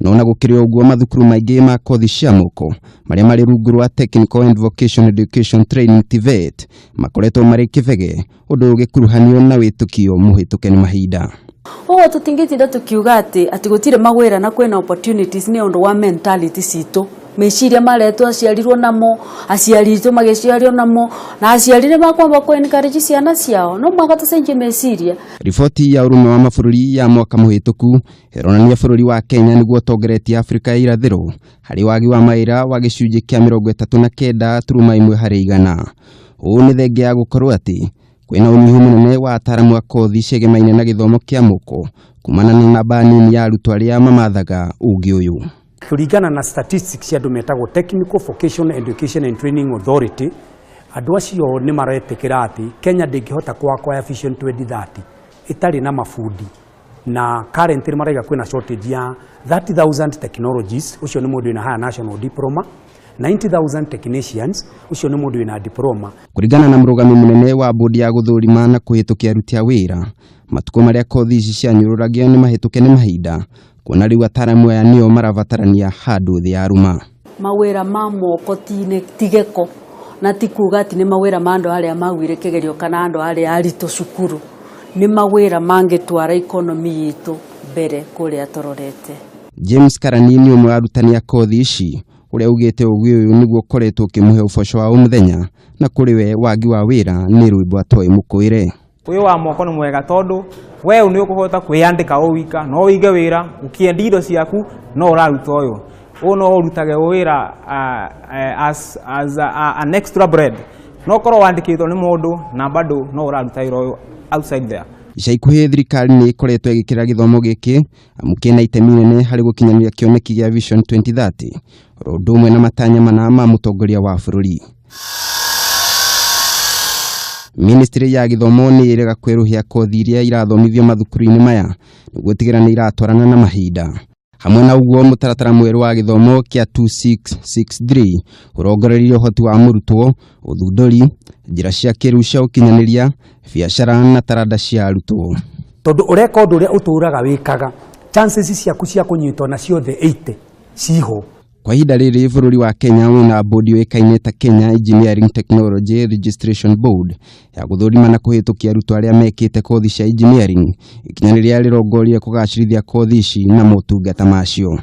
No na gũkĩrĩ o ũguo mathukuru maingĩ ma kothi cia moko marĩa marĩ rungu rwa Technical and Vocational Education Training TVET makoretwo marĩ kĩbege ũndũ ũgĩkuruhanio na wĩtũkio mũhĩtũke nĩ mahinda. Ũguo tũtingĩtinda tũkiuga atĩ atĩ gũtirĩ mawĩra na kwĩna opportunities nĩ ũndũ wa mentality citũ meciria marĩa twaciarirwo namo aciari aitũ magĩciario namo na aciari nĩ makwamba kũ encourage ciana ciao no mũhaka tũcenjie meciria Riboti ya Ũrũmwe wa Mabũrũri ya mwaka mũhĩtũku ĩronania bũrũri wa Kenya nĩguo ũtongoretie Afrika ya irathĩro harĩ wagi wa mawĩra wa gĩcunjĩ kĩa mĩrongo ĩtatũ na kenda turuma ĩmwe harĩ igana. Ũũ nĩ thengia ya gũkorwo atĩ kwĩna ũnyihu mũnene wa ataaramu a kothi ciĩgemaine na gĩthomo kĩa mũko kumana na namba nini ya arutwo arĩa mamathaga ũũgĩ ũyũ. Kũringana na statistics cia andũ metagwo Technical Vocational Education and Training Authority, andũ acio nĩ maretĩkĩra atĩ Kenya ndĩngĩhota kũakwaya Vision 2030 ĩtarĩ na mabundi na currently nĩ maraiga kwĩna shortage ya 30,000 technologies, ũcio nĩ mũndũ wĩna higher national diploma, 90,000 technicians, ũcio nĩ mũndũ wĩna diploma. Kũringana na mũrũgami mũnene wa bodi ya gũthũrima na kũhĩtũkia aruti a wĩra, matukũ marĩa kothi ici cianyũrũragio nĩ mahĩtũke nĩ mahinda, kuona rĩu ataaramu aya nĩo marabatarania handũ thĩ ya ruma. Mawĩra ma moko ti gĩko na ti kuga atĩ nĩ mawĩra ma andũ arĩa maguire kĩgerio kana andũ arĩa aritũ cukuru, nĩ mawĩra mangĩtwara ikonomi itũ mbere kũrĩa tũrorete. James Karani nĩ ũmwe wa arutani a kothi ici ũrĩa ugĩte ũgĩ ũyũ nĩguo ũkoretwo ũkĩmũhe ũboco wa o mũthenya na kũrĩ we wagi wa wĩra nĩ rwĩmbo atoĩ mũkũĩre. wĩ wa moko nĩ mwega tondũ we nĩ ũkũhota kwĩyandĩka o wika no ũige wĩra ũkĩendi indo ciaku no ũraruta ũyũ ũyũ no ũrutage wĩra as, as a, an extra bread no korwo wandĩkĩtwo nĩ mũndũ na bado no ũraruta wĩra ũyũ outside there ica ikuhĩ thirikari nĩ ĩkoretwo ĩgĩkĩra gĩthomo gĩkĩ amu kĩna itemi inene harĩ gũkinyanĩria kĩoneki gĩa Vision 2030 oro ũndũ ũmwe na matanya mana ma mũtongoria wa bũrũri ministry ya gĩthomo nĩ ĩrega kwĩrũhia kothi iria irathomithio mathukuru-inĩ maya nĩguo gũtigĩrĩra nĩ iratwarana na mahinda hamwe na ũguo mũtaratara mwerũ wa gĩthomo kĩa 2663 ũrongoreirie ũhoti wa mũrutwo ũthundũri njĩra cia kĩrĩu cia ũkinyanĩria biacara na taranda cia arutwo tondũ ũreka ũndũ ũrĩa ũtũũraga wĩkaga chances ciaku cia kũnyitwo na ciothe 80 ciihũ. Kwa ihinda rĩrĩ bũrũri wa Kenya wĩna bodi yũĩkaine ta Kenya Engineering Technology Registration Board ya gũthũrima na kũhĩtũkia arutwo arĩa mekĩte kothi cia engineering, ikinya rĩrĩa rĩrongoria kũgacĩrithia kothi ici na motungata macio.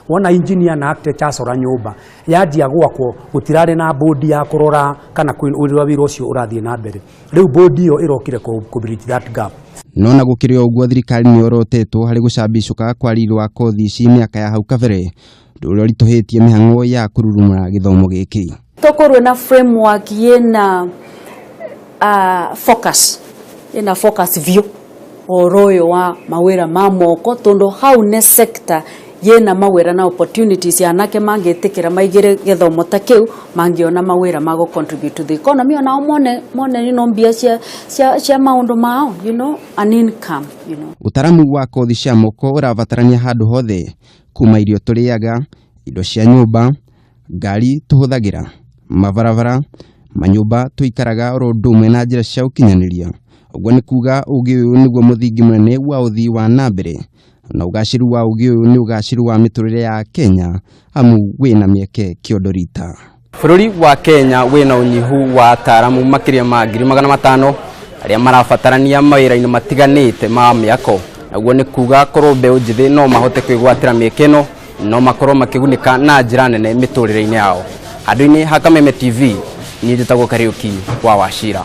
Wona engineer na architect acora nyũmba, yanjia gwakwo gũtirarĩ na bodi ya kũrora kana ũrĩa wĩra ũcio ũrathiĩ na mbere. Rĩu bũndi ĩyo ĩrokire kũbridge that gap. No na gũkĩrĩ o ũguo thirikari nĩ orotetwo harĩ gũcambicũka kwa riri wa kothi ici mĩaka ya hau kabere, ũndũ ũrĩa ũritũhĩtie mĩhang'o ya kũrurumũra gĩthomo gĩkĩ. Tokorwe na framework yĩna uh, focus, yĩna focus biũ. ũhoro ũyũ wa mawĩra ma moko tondũ hau nĩ sector yĩna mawĩra na opportunities anake mangĩtĩkĩra maingĩre gĩthomo ta kĩu mangĩona mawĩra ma gũ contribute to the economy onao mone mone you know, mbia cia, cia, cia maũndũ mao you know, an income you know. Ũtaramu wa kothi cia moko ũrabatarania handũ hothe, kuma irio tũrĩaga, indo cia nyũmba, ngari tũhũthagĩra, mabarabara, manyũmba tũikaraga oro ũndũ ũmwe na njĩra cia ũkinyanĩria. Ũguo nĩ kuuga ũũgĩ ũyũ nĩguo mũthingi mũnene wa ũthii wa na mbere na ũgaacĩru wa ũũgĩ ũyũ nĩ ũgaacĩru wa mĩtũrĩre ya Kenya amu wĩna mĩeke kĩondo rita. Bũrũri wa Kenya wĩna ũnyihu wa ataaramu makĩria ma ngiri magana matano arĩa marabatarania mawĩra-inĩ matiganĩte ma mĩako. Naguo nĩ kuuga korwo mbeũ njĩthĩ no mahote kwĩgwatĩra mĩeke ĩno no makorwo makĩgunĩka na njĩra nene mĩtũrĩre-inĩ yao handũ-inĩ ha kameme tv niĩ njĩtagwo kariũki wa wacira